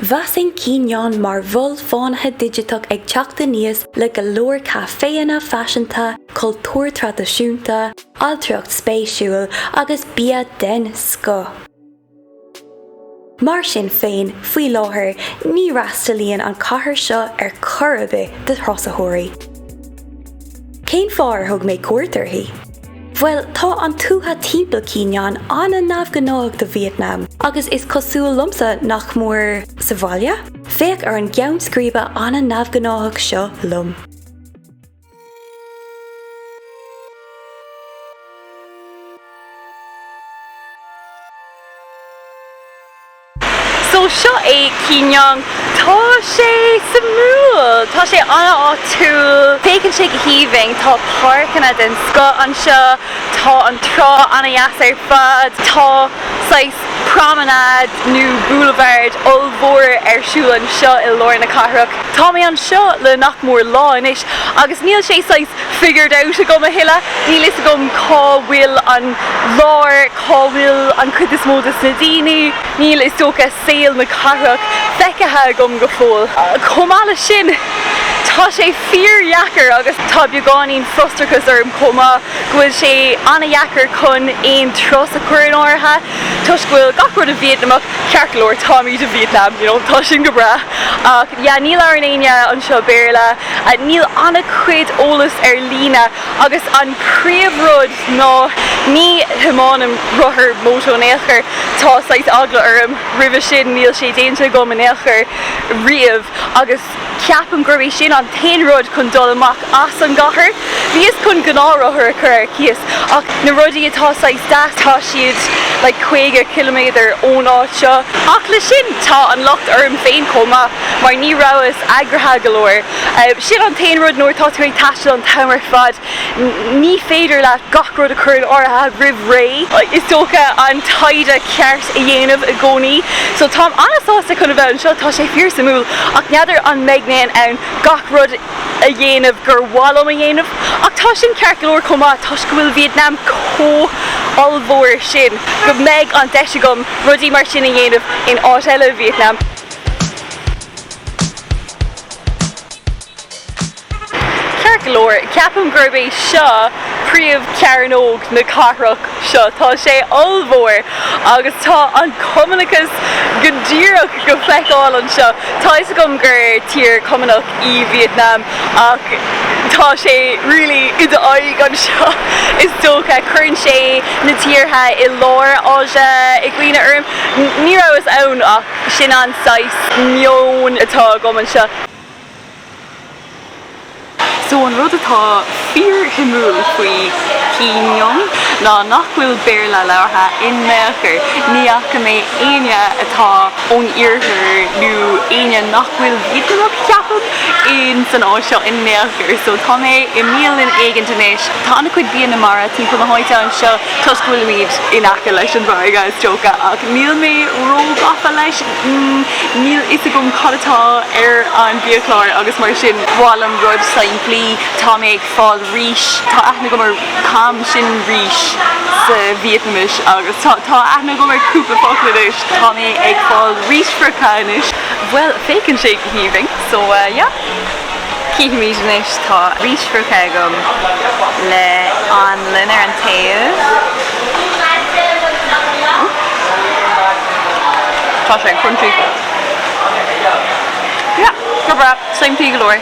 Mheasfainn Quy Nhon mar mhol fánaithe digiteach ag teacht aníos le go leor caiféanna faiseanta, cultúr traidisiúnta, ailtireacht spéisiúil agus bia den scoth. Mar sin féin, faoi láthair, ní fhreastalaíonn an chathair seo ar chor ar bith do thurasóirí. Cén fáth ar thug mé cuairt uirthi? Bhuel, tá an tuath timpeall Quy Nhon an-neamhghnáthach do Vítneam agus is cosúil liomsa nach mór sa bhaile. Féach ar an gceann scríbe an-neamhghnáthach seo liom. So seo é Quy Nhon. Tá sé suimiúil, tá sé an-áitiúil, féachann sé go haoibhinn, tá páirceanna den scoth anseo, tá an trá an-dheas ar fad, tá saghas promenade nó boulevard ollmhór ar siúl anseo i lár na cathrach. Tá mé anseo le nach mór lá anois agus níl sé saghas figured out agam a thuilleadh, níl fhios agam cá bhfuil an lár, cá bhfuil an chuid is mó des na daoine? níl, is dócha, saol na cathrach feicthe agam go fóill. Chomh maith leis sin, tá sé fíordheacair, agus tá beagáinín frustrachais orm chomh maith, go bhfuil sé an-dheacair chun aon turas a chur in áirithe, toisc go bhfuil gach rud i Vítneamach, ceart go leor, táimid i Vítneam, you know, tá sin go breá, ach yeah, ní labhrann éinne anseo Béarla, níl an-chuid eolas ar líne. agus an príomhrud ná ní thiomáinim rothar, moto, in aon chor, tá saghas eagla orm roimhe sin, níl sé déanta agam in aon chor riamh agus ceapaim gurb é sin an t-aon rud chun dul amach as an gcathair. Bhíos chun gnáthrothar a chur ar cíos ach na rudaí atá saghas deas tá siad like caoga ciliméadar ón áit seo. Ach le sin tá an locht orm féin chomh maith mar ní rabhas eagraithe go leor. Sin an t-aon rud, nuair atá tú ag taisteal an t-am ar fad, ní féidir leat gach rud a chur in áirithe roimh ré. Is dócha an taighde ceart a dhéanamh i gcónaí. So táim an-sásta chun a bheith anseo, tá sé fíor-suimiúil, ach n'fheadar an mbeidh mé in ann gach rud a dhéanamh gur mhaith liom a dhéanamh. Ach tá sin ceart go leor chomh maith, toisc go bhfuil Vietnam chomh ollmhór sin, go mbeidh an deis agam rudaí mar sin a dhéanamh in áit eile i Vietnam. Ceart go leor, ceapaim gurb é seo príomhchearnóg na cathrach seo. Tá sé ollmhór agus tá an cumannachas go díreach go feiceáil anseo. Tá fhios agam gur tír cumannach í Vietnam ach tá sé really i d'aghaidh anseo is dócha. Cuireann sé na tíortha i lár Áise i gcuimhne orm. Ní rabhas ann ach. Sin an saghas meon atá agam anseo. So an rud atá fíorshuimiúil faoi Quy Nhon ná nach bhfuil Béarla labhartha in aon chor. Ní fhaca mé éinne atá ón iarthar nó éinne nach bhfuil Vítneamach, ceapaim, in san áit seo in aon chor. So tá mé i mbialann éigint anois. Tá an-chuid bia na mara timpeall na háite anseo. Toisc go bhfuilimid in aice leis an bhfarraige, is dócha, ach níl mé ró-ghafa leis. Níl fhios agam cad atá ar an biachlár agus mar sin, mhaith liom rud simplí. Tá mé ag fáil rís, tá aithne agam ar cam, sin rís sa Vítneaimis, agus tá tá aithne agam ar cúpla focal anois. Tá mé ag fáil rís friochta anois. Bhuel, féachann sé go haoibhinn, so yeah. Cífimid anois. Tá rís friochta agam le anlann ar an taobh. Tá sé crunchy. Yeah, go breá, simplí go leor.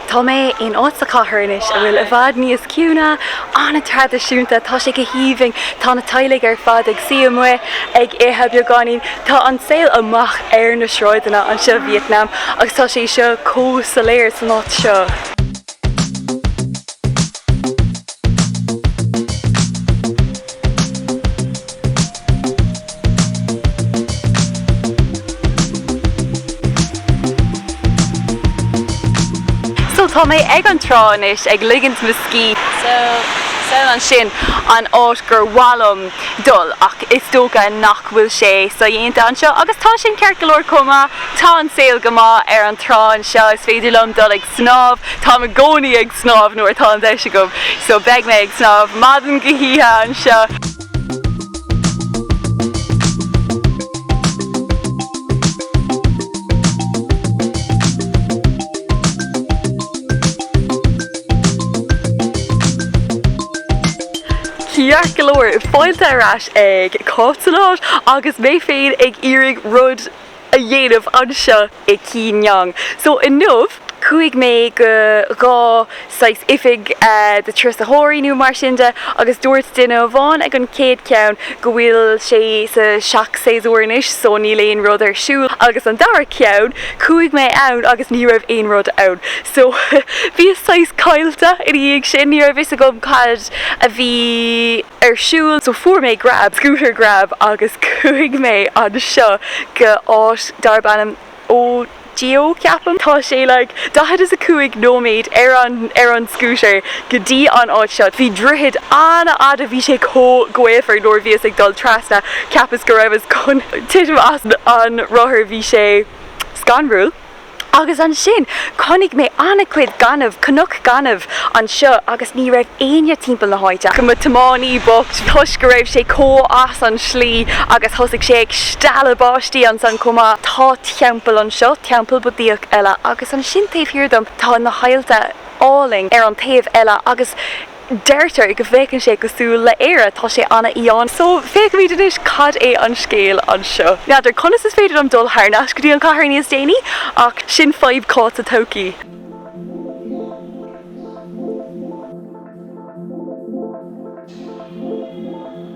Tá mé in áit sa chathair anois a bhfuil i bhfad níos ciúine, an-traidisiúnta, tá sé go haoibhinn, tá na teaghlaigh ar fad ag suí amuigh ag ithe beagáinín, tá an saol amach ar na sráideanna anseo, Vietnam, agus tá sé seo chomh soiléir san áit seo. So, tá mé ag an trá anois, ag ligint mo scíth. So, thall ansin an áit gur mhaith liom dul, ach is dócha nach bhfuil sé sodhéanta anseo, agus tá sin ceart go leor chomh maith, tá an saol go maith ar an trá anseo, is féidir liom dul ag snámh, táim i gcónaí ag snámh nuair atá an deis agam, so beidh mé ag snámh maidin go hoíche anseo. Ceart go leor fáilte ar ais ag Cáit San Áit agus mé féin ag iarraidh rud. a dhéanamh anseo i Quy Nhon. So inniu, chuaigh mé go dhá saghas oifig do thurasóirí nó mar sin de agus dúirt duine amháin ag an chéad cheann go bhfuil sé sa seach-séasúr anois so níl aon rud ar siúl agus an dara ceann, chuaigh mé ann agus ní raibh aon rud ann. So bhíos saghas caillte ina dhiaidh sin, ní raibh fhios agam cad a bhí. ar siúl so fuair mé grab, scooter grab, agus chuaigh mé anseo go áit darb ainm Eo Gió, ceapaim. Tá sé like daichead is a cúig nóiméad ar an, ar an scooter go dtí an áit seo. Bhí droichead an-fhada, bhí sé chomh gaofar nuair a bhíos ag dul trasna, cheapas go rabhas chun titim as an rothar, bhí sé scanrúil. Agus ansin chonaic mé an-chuid gainimh, cnoc gainimh anseo agus ní raibh éinne timpeall na háite ach mo tiománaí bocht toisc go raibh sé chomh as an slí agus thosaigh sé ag stealladh báistí ansan chomh maith. Tá teampall anseo, teampall Budaíoch eile agus ansin taobh thiar dom tá na haillte álainn ar an taobh eile agus. Deirtear go bhféachann sé cosúil le Éire, tá sé an-fhiáin. So, féachfaimid anois cad é an scéal anseo. N'fheadar conas is féidir liom dul thar n-ais go dtí an chathair níos déanaí, ach sin fadhb Cáit sa todhchaí.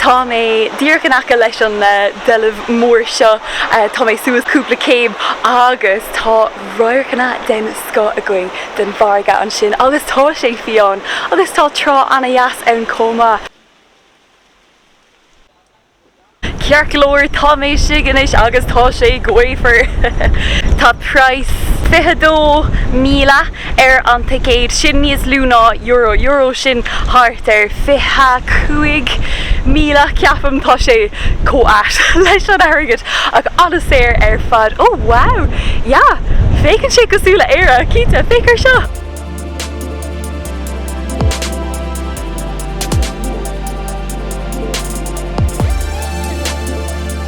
Tá mé díreach in aice leis an deilbh mór seo, tá mé suas cúpla céim agus tá radharcanna den scoth againn den bhfarraige ansin agus tá sé fiáin agus tá trá ana-dheas ann chomh maith. Ceart go leor, tá mé istigh anois agus tá sé gaofar. Tá praghas 22,000. ar an ticéad, sin níos lú ná euro, euro, sin thart ar 25,000 ceapaim, tá sé chomh ait leis an airgead ach an-saor ar fad, oh wow, yeah, féachann sé cosúil le Éire, cinnte, féach ar seo.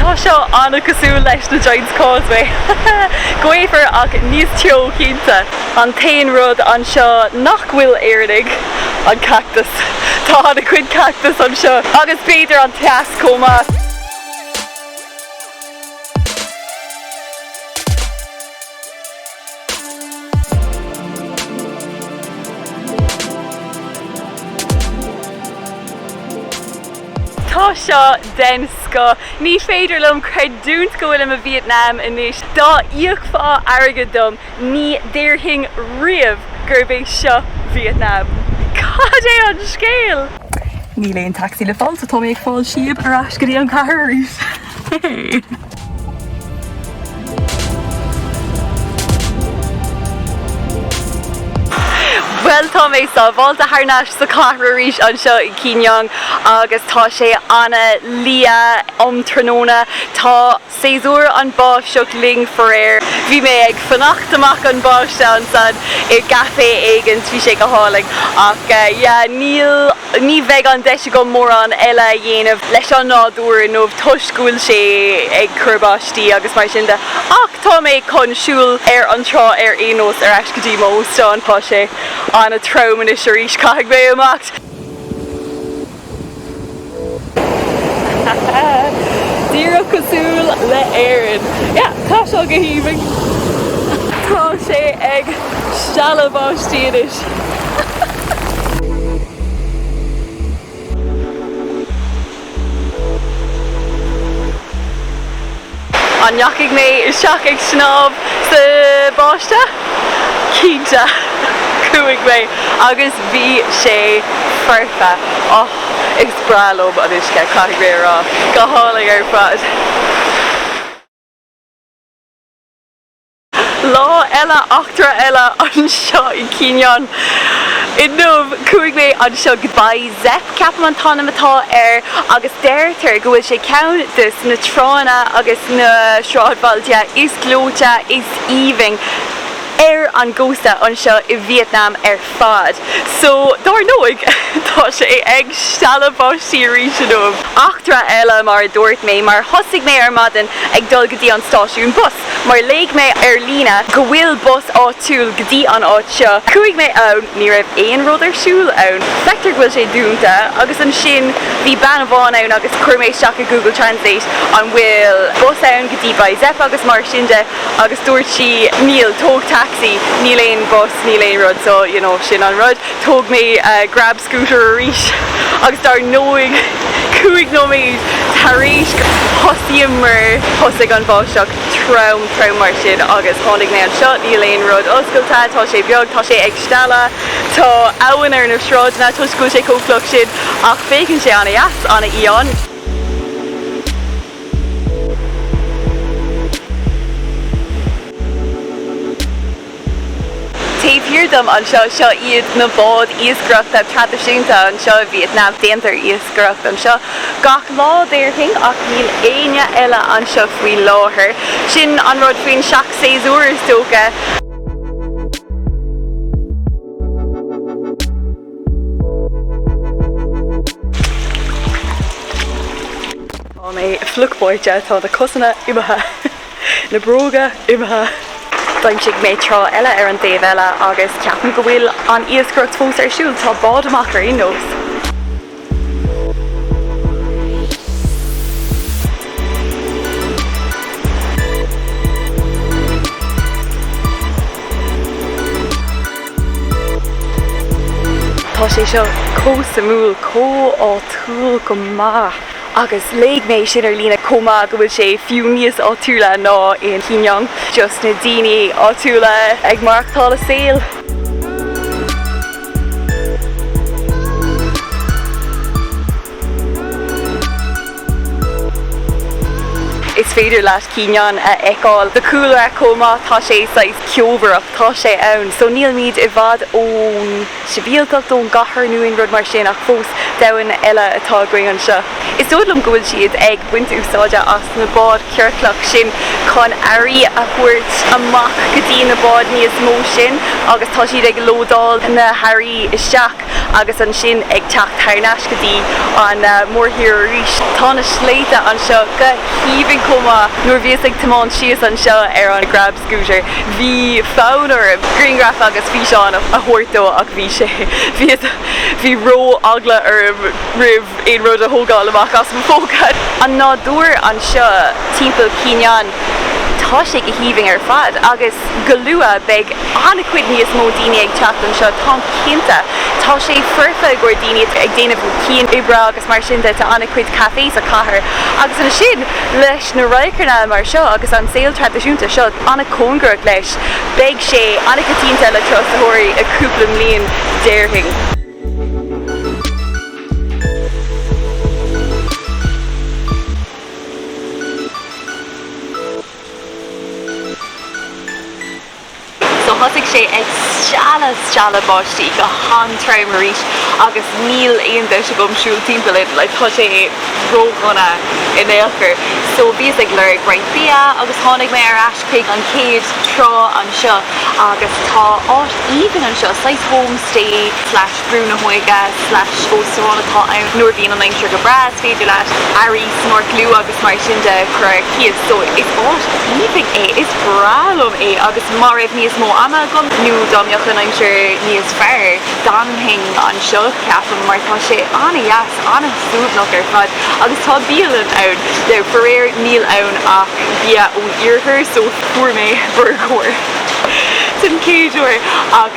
Tá seo an-chosúil leis na Giant's Causeway, gaofar ach níos teo cinnte. An t-aon rud anseo nach bhfuil Éireannaigh, an cactas. Tá an-chuid cactas anseo. Agus b'fhéidir an teas chomh maith. Tá seo den scoth. Ní féidir liom creidiúint go bhfuilim i Vietnam anois. Dá íocfá airgead dom ní déarfainn riamh gurb é seo Vietnam. Cad é an scéal? Níl aon taxi le fáil so tá mé ag fáil síob ar ais go dtí an cathair arís. Bhuel, tá mé sábháilte thar n-ais sa chathair arís anseo i Quy Nhon agus tá sé ana liath um tráthnóna. Tá séasúr an báisteach linn faraor. Bhí mé ag fanacht amach an báisteach ansan i gcaifé éigin, bhí sé go hálainn ach yeah, níl. ní bheidh an deis agam mórán eile a dhéanamh leis an nádúr inniu toisc go bhfuil sé ag cur báistí agus mar sin de ach tá mé chun siúl ar an trá ar aon nós ar ais go dtí m'óstán. Tá sé an-trom anois arís, caithfidh mé imeacht! Díreach cosúil le hÉirinn! Yeah, tá seo go haoibhinn! Tá sé ag stealladh báistí anois. An ndeachaigh mé isteach ag snámh sa bháisteach? Cinnte! Chuaigh mé agus bhí sé foirfe. Och, is breá liom an uisce, caithfidh mé a rá. Go hálainn ar fad. Lá eile, eachtra eile, anseo i Quy Nhon. Inniu, chuaigh mé anseo go Bai Xep, ceapaim an t-ainm atá air, agus deirtear go bhfuil sé ceann de na tránna agus na sráidbhailte is gleoite, is aoibhinn, ar an gcósta anseo i Vietnam ar fad. So, dár ndóigh, tá sé ag stealladh báistí arís inniu. Eachtra eile, mar a dúirt mé, mar thosaigh mé ar maidin ag dul go dtí an stáisiún bus. mar léigh mé ar líne go bhfuil bus áitiúil go dtí an áit seo. Chuaigh mé ann, ní raibh aon rud ar siúl ann, feictear go bhfuil sé dúnta, agus ansin bhí bean amháin ann agus chuir mé isteach i Google Translate an bhfuil bus ann go dtí Bai Xep agus mar sin de agus dúirt sí níl, tóg taxi, níl aon bus, níl aon rud, so you know sin an rud. Thóg mé grab scooter arís agus dar ndóigh cúig nóiméad tar éis thosaíomar thosaigh an bháisteach, trom trom mar sin agus tháinig mé anseo, níl aon rud oscailte, tá sé beag, tá sé ag stealladh, tá abhainn ar na sráideanna toisc go bhfuil sé chomh fliuch sin ach féachann sé ana dheas, ana fhiáin. Taobh thiar dom anseo, seo iad na báid iascaireachta traidisiúnta anseo i Vietnam. Déantar iascaireacht anseo gach lá, déarfainn, ach níl éinne eile anseo faoi láthair. Sin an rud faoin seach-séasúr, is dócha. Tá mé fliuch báite, tá na cosanna imithe. Na bróga imithe. D'aimsigh mé trá eile ar an dtaobh eile agus ceapaim go bhfuil an iascaireacht fós ar siúl. Tá bád amach ar aon nós, tá sé seo cosúil, chomh háitiúil go maith. agus léigh mé sin ar líne chomh maith, go bhfuil sé fiú níos áitiúla ná in Quy Nhon, just na daoine áitiúla ag maireachtáil a saol. Is féidir leat Quy Nhon a fheiceáil sa chúlra chomh maith, tá sé saghas ceobhránach, tá sé ann, so nílimid i bhfad ón. sibhialtacht ón gcathair nó aon rud mar sin ach fós domhan eile atá againn anseo. Is dóigh liom go bhfuil siad ag baint úsáide as na báid chiorclacha sin chun earraí a thabhairt amach go dtí na báid níos mó sin agus tá siad ag lódáil na hearraí isteach agus ansin ag teacht thar n-ais go dtí an mórthír arís. Tá na sléibhte anseo go haoibhinn chomh maith. Nuair a bhíos ag tiomáint síos anseo ar an. scooter. Bhí fonn orm grianghraif agus físeáin a thabhairt daoibh ach bhí sé, bhí, bhí ró-eagla orm roimh aon rud a thógáil amach as mo phóca. An nádúr anseo timpeall Quy Nhon, tá sé go haoibhinn ar fad agus go luath beidh an-chuid níos mó daoine ag teacht anseo, táim cinnte. Tá sé foirfe i gcomhair daoine atá ag déanamh cianoibre agus mar sin de, tá an-chuid cafés sa chathair agus ansin le. na radharcanna mar seo agus an saol traidisiúnta seo an-chóngarach leis, beidh sé an-choitianta le turasóirí i gcúpla mbliain, déarfainn. So thosaigh sé ag stealladh, stealladh báistí go han-trom arís agus níl aon deis agam siúl timpeall ann, like, tá sé ródhona in aon chor. So bhíos ag lorg roinnt bia agus tháinig mé ar ais chuig an chéad trá anseo agus tá áit aoibhinn anseo, saghas homestay, slash. Brú na hóige slash óstán atá ann. Nuair a bhíonn an aimsir go breá, is féidir leat earraí snorclú agus mar sin de a chur ar cíos. So, is áit aoibhinn é. Is breá liom é agus má bhí níos mó ama agam nó dá mbeadh an aimsir níos fearr, d'fhanfainn anseo, ceapaim, mar tá sé an-deas, an-suaimhneach ar fad. Agus tá bialann ann. Now, faraor, níl ann ach bia ón iarthar, so fuair mé burgar den chéad uair ach.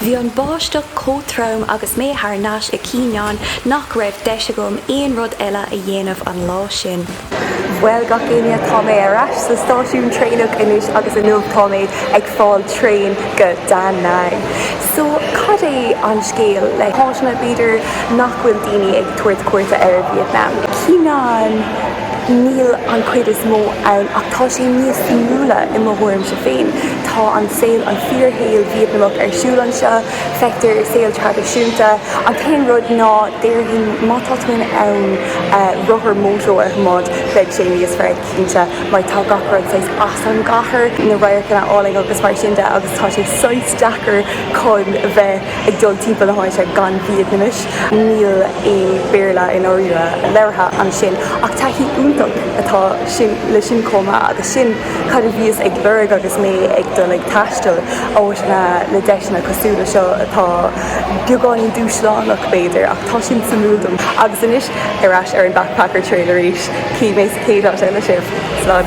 Bhí an bháisteach chomh trom agus mé thar n-ais i Quy Nhon nach raibh deis agam aon rud eile a dhéanamh an lá sin. Bhuel, gach éinne, tá mé ar ais sa stáisiún traenach anois agus inniu tá mé ag fáil traein go Da Nang. So, cad é an scéal le háiteanna, b'fhéidir, nach bhfuil daoine ag tabhairt cuairte ar Vietnam? Quy Nhon, Níl an chuid is mó ann, ach tá sé níos suimiúla i mo thuairimse féin. Tá an saol, an fíorshaol Vítneamach ar siúl anseo. Feictear saol traidisiúnta. An t-aon rud ná, déarfainn, má tá tú in ann rothar mótair nó moped, bheadh sé níos fearr cinnte, mar tá gach rud saghas as an gcathair, na radharcanna áille agus mar sin de, agus tá sé saghas deacair chun bheith ag dul timpeall na háite gan Vítneamais. Níl aon Bhéarla, i ndáiríre, labhartha ansin, ach taithí iontach atá le sin chomh maith, agus sin cad a bhíos ag lorg agus mé ag dul ag taisteal, áiteanna le deiseanna cosúil le seo atá beagáinín dúshlánach, b'fhéidir, ach tá sin suimiúil dom. Agus anois, ar ais ar an Backpacker Trail arís. Cífidh mé sa chéad áit eile sibh. Slán.